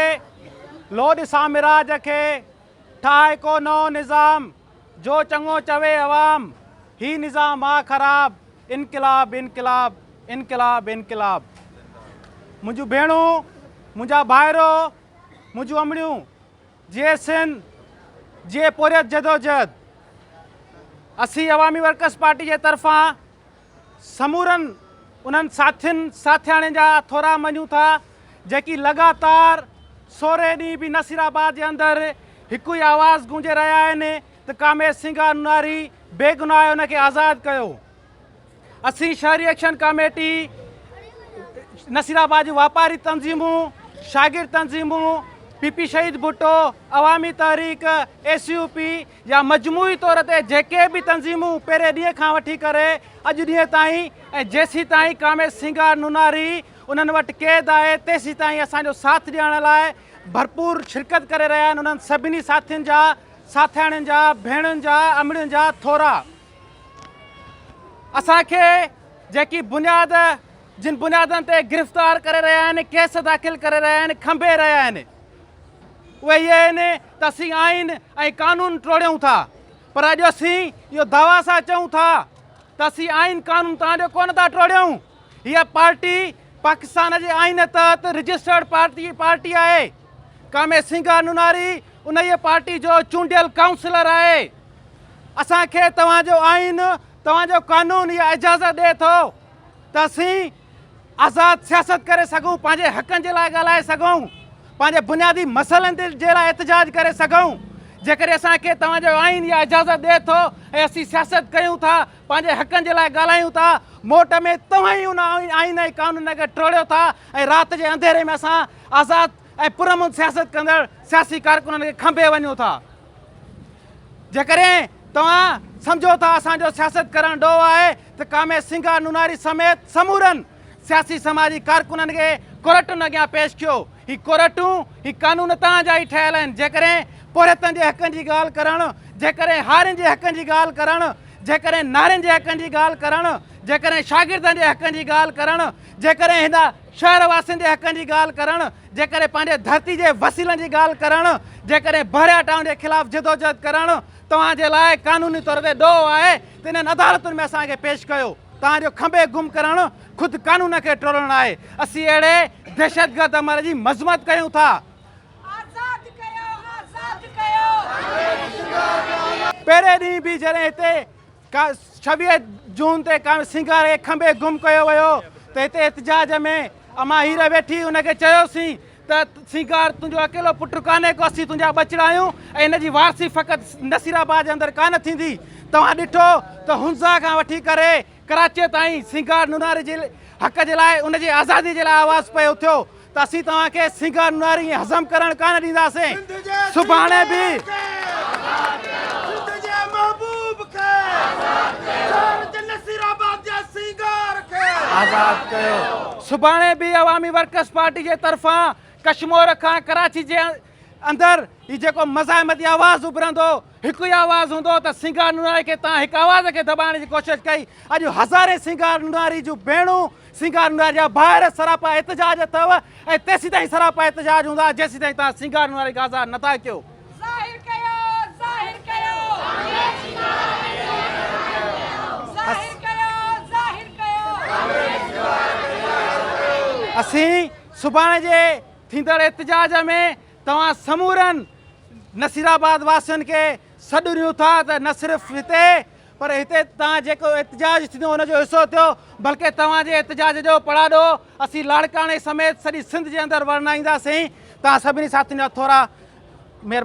ڪري لوڏ سامراج کي ٺاهه ڪو نئون نظام جو چڱو چوي عوام هي نظام آ خراب انقلاب انقلاب انقلاب انقلاب منهنجون ڀيڻون منهنجا ڀائرو منهنجون امڙيون جي سن جي پوريت جدوجهد اسي عوامي ورڪرس پارٽي جي طرفان سمورن انهن ساٿين ساٿياڻين جا ٿورا مڃون ٿا جيڪي لڳاتار سورهين ڏينهن به نصير آباد جي اندر هڪ ئي آواز گونجي رهيا آهن ته ڪاميت سنگهه انوناري بيگناهه ان کي آزاد ڪيو اسين شهري ايڪشن ڪاميٽي نصير آباد جون واپاري تنظيمون شاگرد تنظيمون پي پي شهيد ڀٽو عوامي تحريڪ اي سي يو پي يا مجموعي طور تي جيڪي به تنظيمون پهرين ڏينهن کان وٺي ڪري اڄ ڏينهن تائين ۽ جيسيتائين ڪاميت سينگار نوناري انهن وٽ قيد آهي تيسيتائين اسان جو ساٿ ڏيارڻ لاء ڀرپور شرڪت ڪري رهيا آهن انهن سڀني ساٿين جا ساٿياڻين جا ڀيڻن جا امڙين جا ٿورا اسان کي جيڪي بنياد جن بنيادن تي گرفتار ڪري رهيا آهن ڪيس داخل ڪري رهيا آهن کنڀي رهيا آهن اهي آهن ته اسين آئين ۽ قانون ٽوڙيون ٿا پر اڄ اسين اهو دعويٰ سان چئون ٿا ته اسين آئين قانون توهان جو ڪونه ٿا ٽوڙيون هيء پارٽي پاڪستان جي آئين تحت رجسٽرڊ پارٽي پارٽي آهي ڪامي سنگهه نوناري انهيء پارٽي جو چونڊيل ڪائونسلر آهي اسان کي توهان جو آئين توهان جو قانون اها اجازت ڏئي ٿو ته اسين آزاد سياست ڪري سگهون، پنهنجي حقن جي لاء ڳالهائي سگهون، پنهنجي بنيادي مسئلن تي جي لاء احتجاج ڪري سگهون، جيڪڏهن اسان کي توهان جو آئين اها اجازت ڏئي ٿو ۽ اسين سياست ڪيون ٿا، پنهنجي حقن جي لاء ڳالهايون ٿا، موٽ ۾ توهان ئي ان آئين ۽ قانون کي ٽوڙيو ٿا ۽ رات جي انڌيري ۾ اسان آزاد ۽ پرامن سياست ڪندڙ سياسي ڪارڪنن کي کنڀي وڃون ٿا. جيڪڏهن توهان سمجهو ٿا اسان جو سياست ڪرڻ ڏوهه آهي ته ڪامي سنگهه نوناري سميت سمورن سياسي سماجي ڪارڪنن کي ڪورٽن اڳيان پيش ڪيو هي ڪورٽون هي قانون توهان جا ئي ٺهيل آهن جيڪڏهن پورهيتن جي حقن جي ڳالهه ڪرڻ جيڪڏهن هارين جي حقن جي ڳالهه ڪرڻ جيڪڏهن نارين جي حقن جي ڳالهه ڪرڻ جيڪڏهن شاگردن جي حقن جي ڳالهه ڪرڻ جيڪڏهن هن شهر واسين جي حقن جي ڳالهه ڪرڻ، جيڪڏهن پنهنجي ڌرتي جي وسيلن جي ڳالهه ڪرڻ، جيڪڏهن بحريه ٽائون جي خلاف جدوجهد ڪرڻ توهان جي لاء قانوني طور تي ڏوهه آهي ته انهن عدالتن ۾ اسان کي پيش ڪيو. توهان جو کنڀي گم ڪرڻ خود قانون کي ٽوڙڻ آهي. اسين اهڙي دهشتگرد عمل جي مذمت ڪيون ٿا. آزاد ڪيو آزاد ڪيو. پهرين ڏينهن به جڏهن هتي ڇويهه جون تي ڪانوي سينگار کي کنڀي گم ڪيو ويو ته هتي احتجاج ۾ امان هير ويٺي ان کي چيوسين ته سينگار تنهنجو اڪيلو پٽ ڪانهي ڪو اسين تنهنجا ٻچڙا آهيون ۽ ان جي وارثي فقط نصير آباد جي اندر ڪانه ٿيندي توهان ڏٺو ته هنزا کان وٺي ڪري ڪراچيء تائين سينگار نوناري جي حق جي لاء ان جي آزادي جي لاء آواز پئي اٿيو ته اسين توهان کي سنگهار ناري ۽ هضم ڪرڻ ڪانه ڏينداسين سڀاڻي به سنڌ جي محبوب کي آزاد ڪيو شهر جي نصير آباد جي سنگهار کي آزاد ڪيو سڀاڻي به عوامي ورڪرز پارٽي جي طرفان ڪشمور کان ڪراچي جي اندر هي جيڪو مزاحمتي آواز اڀرندو هو، هڪ ئي آواز هوندو هو ته سينگار نوناري کي تان هڪ آواز کي دٻائڻ جي ڪوشش ڪئي. اڄ هزارين سينگار نوناري جون ڀيڻون، سينگار نوناري جا ڀائر سراپا احتجاج اٿئو ۽ تيسيتائين سراپا احتجاج هوندا جيسيتائين توهان سينگار نوناري کي آزاد نٿا ڪيو. ظاهر ڪيو، ظاهر ڪيو. ڪانگريس جي ڪارا ڪري ظاهر ڪيو. ظاهر ڪيو، ظاهر ڪيو. ڪانگريس جي ڪارا ڪري ظاهر ڪيو. اسين سڀاڻي جي ٿيندڙ احتجاج ۾ توهان سمورن نصيرآباد واسين کي سڏ ڏيون ٿا ته نه صرف هتي پر هتي توهان جيڪو احتجاج ٿيندو ان جو حصو ٿيو بلڪه توهان جي احتجاج جو پڙاڏو اسين لاڙڪاڻي سميت سڄي سنڌ جي اندر ورنائينداسين توهان سڀني ساٿين جا ٿورا مهربان